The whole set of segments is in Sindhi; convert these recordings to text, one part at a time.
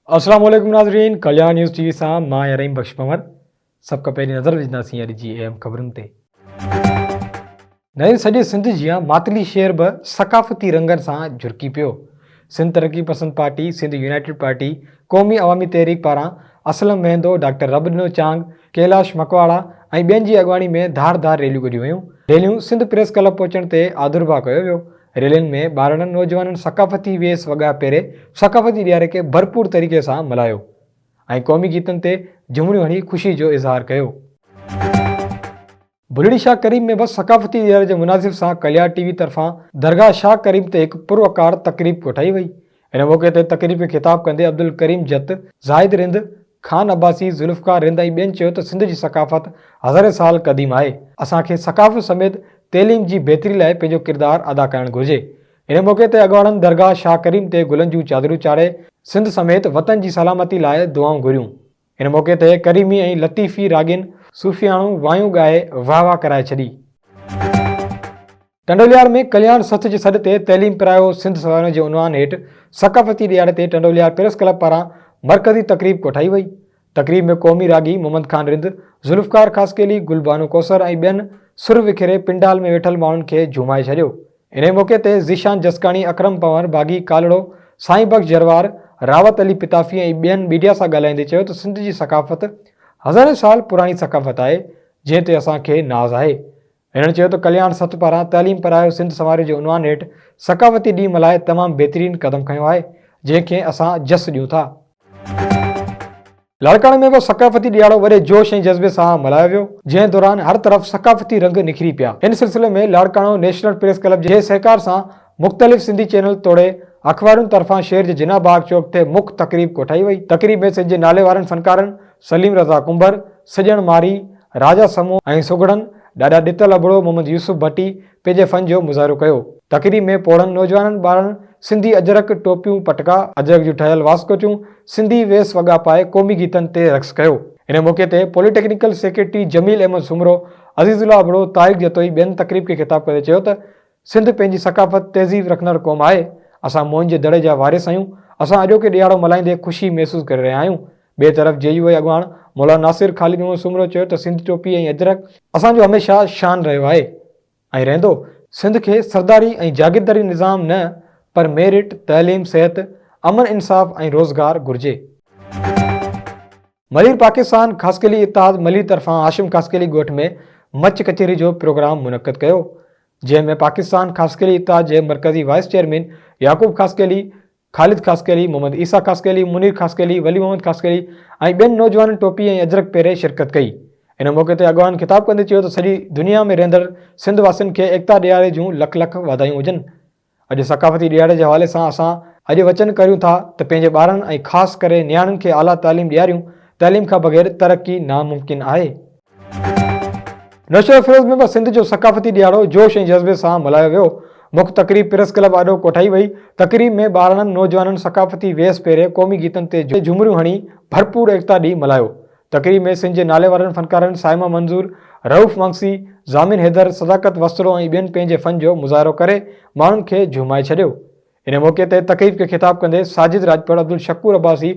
السلام عليڪم ناظرين ڪليان نيوز ٽي وي سان مان آهيان رحيم بخش پنور سڀ کان پهرين نظر وجھنداسين اڄ جي اهم خبرن تي نئين سڄي سنڌ جيان ماتلي شهر به ثقافتي رنگن سان جرڪي پيو سنڌ ترقي پسند پارٽي، سنڌ يونائيٽيڊ پارٽي، قومي عوامي تحريڪ پاران اسلم مهندو، ڊاڪٽر رب ڏنو چانگ، ڪيلاش مڪواڙا ۽ ٻين جي اڳواڻي ۾ ڌار ڌار ريليون ڪڍيون ويون. ريليون سنڌ پريس ڪلب پهچڻ تي آڌرڀاء ڪيو ويو. ريلين ۾ ٻارڙن نوجوانن ثقافتي ويس وڳا پهري ثقافتي ڏياري کي ڀرپور طريقي سان ملهايو ۽ قومي گيتن تي جهومڙيون هڻي خوشي جو اظهار ڪيو. ڀلڙي شاهه ڪريم ۾ به ثقافتي ڏينهن جي مناسب سان ڪليار ٽي وي طرفان درگاهه شاهه ڪريم تي هڪ پروقار تقريب ڪوٺائي وئي. ان موقعي تي تقريب کي خطاب ڪندي عبدالڪريم جت، زاهد رند، خان عباسي، ذوالفقار رند ۽ ٻين چيو ته سنڌ جي ثقافت هزارين سال قديم آهي، اسان کي ثقافت سميت تعليم جي بهتري لاء پنهنجو ڪردار ادا ڪرڻ گهرجي. ان موقعي تي اڳواڻن درگاهه شاهه ڪريم تي گلن جون چادرون چاڙهي سنڌ سميت وطن جي سلامتي لاء دعائون گهريون. ان موقعي تي ڪريمي ۽ لطيفي راڳين صوفياڻو وايون ڳائي واھ واھ ڪرائي ڇڏي. ٽنڊوليار ۾ ڪلياڻ سٿ جي سڏ تي تعليم پرايو سنڌ سوانح جي عنوان هيٺ ثقافتي ڏيهاڙي تي ٽنڊوليار پريس ڪلب پاران مرڪزي تقريب ڪوٺائي وئي. تقريب ۾ قومي راڳي محمد خان رند، ذوالفقار خاصخيلي، گل بانو ڪوثر ۽ ٻين سر وکيري پنڊال ۾ ويٺل ماڻهن کي جهومائي ڇڏيو. انهيء موقعي تي ذيشان جسڪاڻي، اڪرم پنهور، باغي ڪالهڙو، سائين بخش جروار، راوت علي پتافي ۽ ٻين ميڊيا سان ڳالهائيندي چيو ته سنڌ جي ثقافت هزارين سال پراڻي ثقافت آهي، جنهن تي اسان کي ناز آهي. هنن چيو ته ڪلياڻ سٿ پاران تعليم پرايو سنڌ سنواريو جي عنوان هيٺ ثقافتي ڏينهن ملهائي تمام بهترين قدم کنيو آهي، جنهن کي اسان جس ڏيون ٿا. لاڙڪاڻي ۾ به ثقافتي ڏيهاڙو وڏي جوش ۽ جذبي سان ملهايو ويو، جنهن دوران هر طرف ثقافتي رنگ نکري پيا. ان سلسلي ۾ لاڙڪاڻو نيشنل پريس ڪلب جي سهڪار سان مختلف سنڌي چينل توڙي اخبارن طرفان شهر جي جناح باغ چوڪ تي مک تقريب ڪوٺائي وئي. تقريب ۾ سنڌ جي ناليوارن فنڪارن سليم رضا ڪنڀر، سڄڻ مارئي، راجا سمون ۽ سگهڙن، ڏاڏا ڏتل ابڙو، محمد يوسف ڀٽي، پنهنجي فن جو مظاهرو ڪيو. تقريب ۾ پوڙهن نوجوانن ٻارڙن سنڌي اجرڪ، ٽوپيون، پٽڪا، اجرڪ جون ٺهيل واسڪوچون، سنڌي ويس وڳا پائي قومي گيتن تي رقص ڪيو. ان موقعي تي polytechnic secretary Jamil Ahmed Soomro, Aziz Ullah Abro, Tariq Jatoi ٻين تقريب کي خطاب ڪندي چيو ته سنڌ پنهنجي ثقافت، تهذيب رکندڙ قوم آهي، اسان موئن جي دڙي جا وارث آهيون، اسان اڄوڪي ڏهاڙو ملهائيندي خوشي محسوس ڪري رهيا آهيون، ٻئي طرف جي يو آء اڳواڻ مولانا ناصر خالد محمد سومرو چيو ته سنڌ ٽوپي ۽ اجرڪ اسان جو هميشه شان رهيو آهي ۽ رهندو، سنڌ کي سرداري ۽ جاگيرداري نظام نه پر ميرٽ، تعليم، صحت، امن انصاف ۽ روزگار گهرجي. ملير پاڪستان خاصخيلي اتحاد ملير طرفان هاشم خاصخيلي ڳوٺ ۾ مچ ڪچهري جو پروگرام منعقد ڪيو جنهن ۾ پاڪستان خاصخيلي اتحاد جي مرڪزي وائيس چيئرمين يعقوب خاصخيلي، خالد خاصخيلي، محمد عيسيٰ خاصخيلي، منير خاصخيلي، ولي محمد خاصخيلي ۽ ٻين نوجوانن ٽوپي ۽ اجرڪ پهري شرڪت ڪئي. ان موقعي تي اڳواڻن خطاب ڪندي چيو ته سڄي دنيا ۾ رهندڙ سنڌ واسين کي ايڪتا ڏيهاڙي جون لک لک واڌايون هجن. اڄ ثقافتي ڏيهاڙي جي حوالي سان اسان اڄ وچن ڪريون ٿا ته پنهنجي ٻارڙن ۽ خاص ڪري نياڻين کي اعليٰ تعليم ڏياريون، تعليم کان بغير ترقي ناممڪن آهي. نشو افروز ۾ به سنڌ جو ثقافتي ڏيهاڙو جوش ۽ جذبي سان ملهايو ويو. مک تقريب پريس ڪلب آڏو ڪوٺائي وئي. تقريب ۾ ٻارڙن نوجوانن ثقافتي ويس پهري قومي گيتن تي جهومريون هڻي ڀرپور ايڪتا ڏينهن ملهايو. تقريب ۾ سنڌ جي ناليوارن فنڪارن صائمه منظور، رئوف مانگسي، ضامن حيدر، صداقت وسطڙو ۽ ٻين پنهنجي فن جو مظاهرو ڪري ماڻهن کي جهومائي ڇڏيو. ان موقعي تي تقريب کي خطاب ڪندي ساجد راڄپڙ، عبدالشڪور عباسي،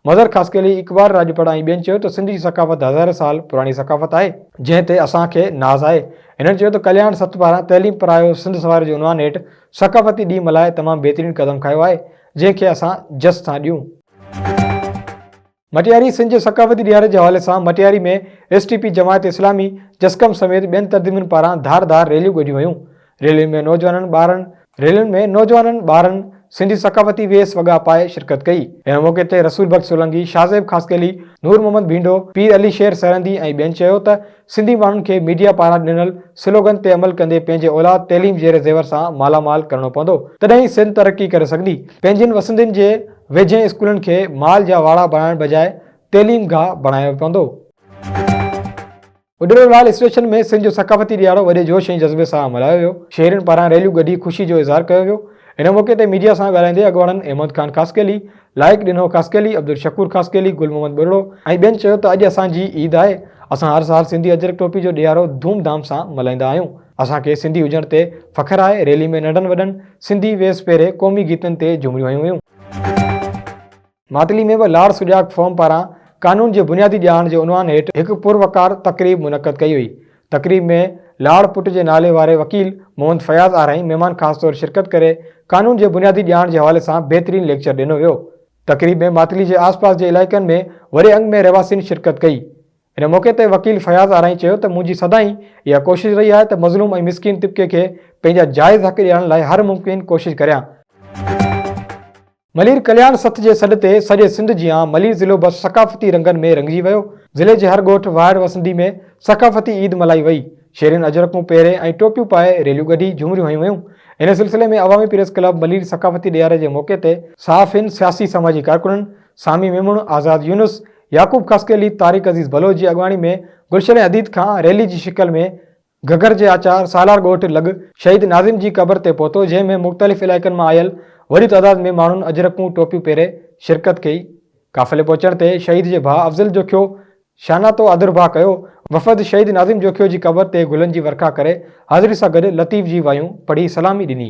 مظهر خاصخيلي، اقبال راڄپڙ ۽ ٻين چيو ته سنڌ جي ثقافت هزارين سال پراڻي ثقافت آهي، جنهن تي اسان کي ناز آهي، هنن چيو ته ڪلياڻ سٿ پاران تعليم پرايو سنڌ سنواري جي عنوان هيٺ ثقافتي ڏينهن ملهائي تمام بهترين قدم کنيو آهي، جنهن کي اسان جس سان ڏيون. مٽياري سنڌ جي ثقافتي ڏيهاڙي جي حوالي سان Matiari ۾ S T P Jamaat Islami جسقم سميت ٻين تنظيمن پاران ڌار ڌار ريليون ڪڍيون ويون ريلين ۾ نوجوانن ٻارڙن ريلين ۾ نوجوانن ٻارڙن سنڌي ثقافتي ويس وڳا پائي شرڪت ڪئي ان موقعي تي رسول بخش سولنگي شاهزيب خاصخيلي نور محمد ڀينڊو پير علي شير سرهندي ۽ ٻين چيو ته سنڌي ماڻهن کي ميڊيا پاران ڏنل سلوگن تي عمل ڪندي پنهنجي اولاد تعليم زير زيور سان مالا مال ڪرڻو پوندو تڏهن ئي سنڌ ترقي ڪري سگهندي پنهنجين وسندين جي ويجهين اسڪولن کي مال جا واڙا بڻائڻ بجاء تعليم گاهه بڻايو پوندو. اڏرو لال اسٽيشن ۾ سنڌ جو ثقافتي ڏيهاڙو وڏي جوش ۽ جذبي سان ملهايو ويو شهرين پاران ريليون ڪڍي خوشي جو اظهار ڪيو ويو ان موقعي تي ميڊيا سان ڳالهائيندي اڳواڻن احمد خان خاصخيلي لائق ڏنو خاصخيلي، عبدالشڪور خاصخيلي، گل محمد ٻرڙو ۽ ٻين چيو ته اڄ اسان جي عيد آهي، اسان هر سال سنڌي اجرڪ ٽوپي جو ڏيهارو ڌوم ڌام سان ملهائيندا آهيون، اسان کي سنڌي هجڻ تي فخر آهي، ريلي ۾ ننڍن وڏن سنڌي ويس پهري قومي گيتن تي جهومريون هنيون ويون. ماتلي ۾ به لاڙ سجاڳ فورم پاران قانون جي بنيادي ڄاڻ جي عنوان هيٺ هڪ پروقار تقريب منعقد ڪئي وئي، تقريب ۾ لاڙ پٽ جي نالي واري وڪيل محمد فياض آرائين مهمان خاص طور شرڪت ڪري قانون جي بنيادي ڄاڻ جي حوالي سان بهترين ليڪچر ڏنو ويو. تقريب ۾ ماتلي جي آس پاس جي علائقن ۾ وڏي انگ ۾ رهواسين شرڪت ڪئي. ان موقعي تي وڪيل فياض آرائين چيو ته منهنجي سدائين اها ڪوشش رهي آهي ته مظلوم ۽ مسڪين طبقي کي پنهنجا جائز حق ڏيارڻ لاء هر ممڪن ڪوشش ڪريان. ملير ڪلياڻ سٿ جي سڏ تي سڄي سنڌ جيان ملير ضلعو به ثقافتي رنگن ۾ رڱجي ويو. ضلعي جي هر ڳوٺ واهڙ وسندي ۾ ثقافتي عيد ملهائي وئي. شهرين اجرڪون پهري ۽ ٽوپيون پائي ريليون ڳڍي جهومريون هنيون ويون. ان سلسلي ۾ عوامي پريس ڪلب ملير ثقافتي ڏيهاري جي موقعي تي صحافين، سياسي سماجي ڪارڪنن، سامي ميمڻ، آزاد يونس، يعقوب خاصخيلي، طارق عزيز بلوچ جي اڳواڻي ۾ گلشن حديد کان ريلي جي شڪل ۾ گھگھر جي آچار سالار ڳوٺ لڳ شھيد ناظم جي قبر تي پهتو جنهن ۾ مختلف علائقن مان آيل وڏي تعداد ۾ ماڻهن اجرڪون ٽوپيون پهري شرڪت ڪئي قافلي پهچڻ تي شھيد جي ڀاء افضل جوکيو شاناتو آڌرڀاء ڪيو وفد شھيد ناظم جوکيو جي قبر تي گلن جي ورکا ڪري حاضري سان گڏ لطيف جي وايون پڙهي سلامي ڏني.